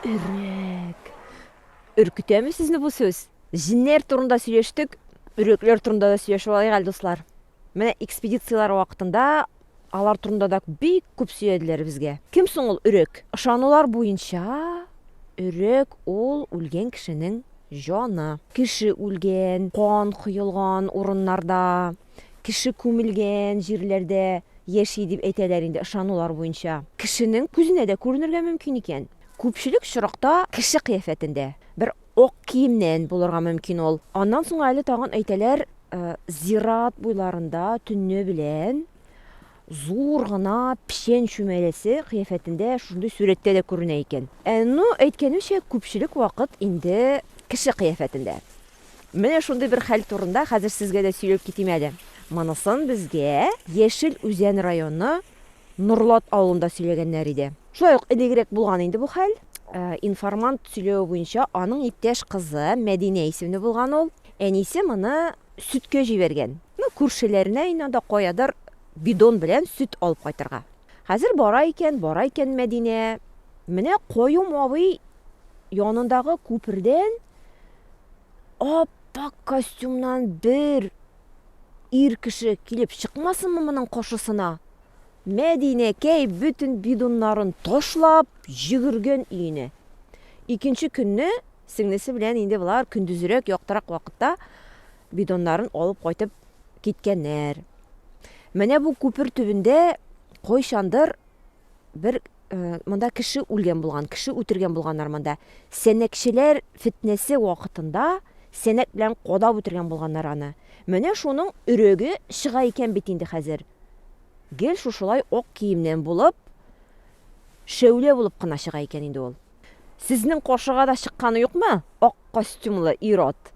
Өрәк. Өркетәме сезне бу сүз? Җеннәр турында сөйләштек, өрәкләр турында да сөйләшеп алайык әле, дуслар. Менә экспедицияләр вакытында алар турында да бик күп сөйләделәр безгә. Кем соң ул өрәк? Ышанулар буенча, өрәк ул үлгән кешенең җаны. Кеше үлгән, кан коелган урыннарда, Кеше күмелгән җирләрдә яши дип әйтәләр инде ышанулар буенча. Кешенең күзенә дә күренергә мөмкин икән. Күпчелек очракта кеше кыяфәтендә, бер ак киемнән булырга мөмкин ул. Аннан соң әле тагын әйтәләр, зират буйларында төнне белән, Зур гына печән чүмәләсе кыяфәтендә шушындый сурәттә дә күренә икән. Ә ну, әйткәнемчә, күпчелек вакыт инде кеше кыяфәтендә. Менә шундый бер хәл турында хәзер сезгә дә сөйләп китим әле. Монысын безгә Яшел Үзән районы Норлат авылында сөйләгәннәр иде. Шулай ук элегрәк булган инде бу хәл. Информант сөйләве буенча, аның иптәш кызы Мәдинә исемле булган ул. Әнисе моны Сөткә җибәргән. Ну, күршеләренә ин анда каядыр бидон белән сөт алып кайтырга. Хәзер бара икән, бара икән Мәдинә. Менә Каюм абый янындагы күпердән ап-ак костюмнан бер ир кеше килеп чыкмасынмы моның каршысына? Мәдинәкәй бөтен бидоннарын ташлап, йөгергән өенә. Икенче көнне Сеңлесе белән инде болар көндезрәк, яктырак вакытта бидоннарын алып кайтып киткәннәр. Менә бу күпер төбендә кайчандыр бер монда кеше үлгән булган, кеше үтергән булганнар монда. Сәнәкчеләр фетнәсе вакытында сәнәк белән кадап үтергән булганнар аны. Менә шуның өрәге чыга икән бит инде хәзер. Гел шушылай ак киемнән булып, шәүлә булып кына чыга икән инде ул. Сезнең каршыга да чыкканы юкмы ак костюмлы ир-ат?